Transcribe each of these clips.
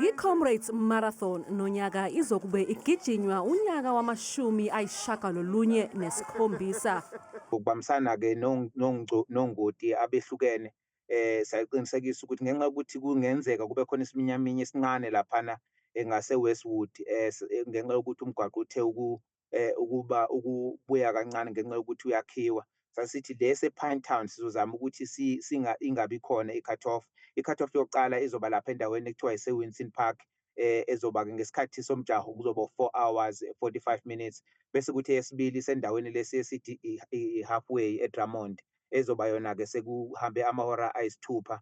I-Comrades Marathon nonyaka izokube igijinywa unyaka wamashumi ayishagalolunye nesikhombisa. Ukubambisana-ke nongoti abehlukene eh sayiqinisekisa ukuthi ngenxa yokuthi kungenzeka kube khona isiminyaminya esincane laphana eh, ngase-Westwood eh, eh ngenxa yokuthi umgwaqo uthe eh ukuba ukubuya kancane ngenxa yokuthi uyakhiwa sasithi lesi ePine Town sizozama ukuthi singa ingabi khona i-cut off i-cut off yokuqala izoba lapha endaweni ekuthiwa ise-Winson Park eh ezoba-ke ngesikhathi somjaho kuzoba four hours forty-five minutes bese kuthi eyesibili isendaweni lesi esithi i-halfway eDrummond ezoba yona-ke sekuhambe amahora ayisithupha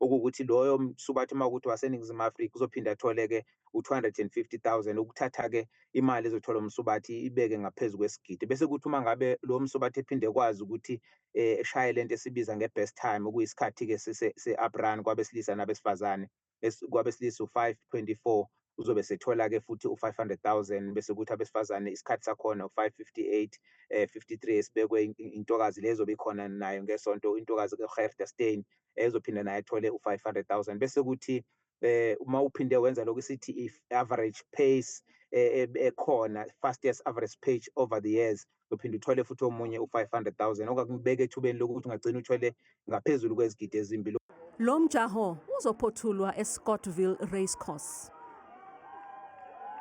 okuwukuthi loyo msubathi uma ukuthi waseningizimu afrika uzophinde athole-ke u-250,000 ukuthatha-ke imali ezothola umsubathi ibeke ngaphezu kwesigidi bese kuthi uma ngabe lowo msubathi ephinde ekwazi ukuthi eh, eshaye le nto esibiza nge-best time okuyisikhathi-ke se-uprun kwabesilisa nabesifazane kwabesilisa u-five twenty-four uzobe sethola-ke futhi u-500,000 bese kuthi abesifazane isikhathi sakhona u-558 eh 53 esibekwe intokazi lezobe ikhona nayo ngesonto intokazi uHerda Stein ezophinde naye athole u-500000 bese kuthi eh uma uphinde wenza lokho sithi i-average pace eh, eh, ekhona fastest average page over the years uphinde uthole futhi omunye u-500000 okakubeka ethubeni lokuthi ungagcina uthole ngaphezulu kwezigidi ezimbili lo mjaho uzophothulwa escottville racecourse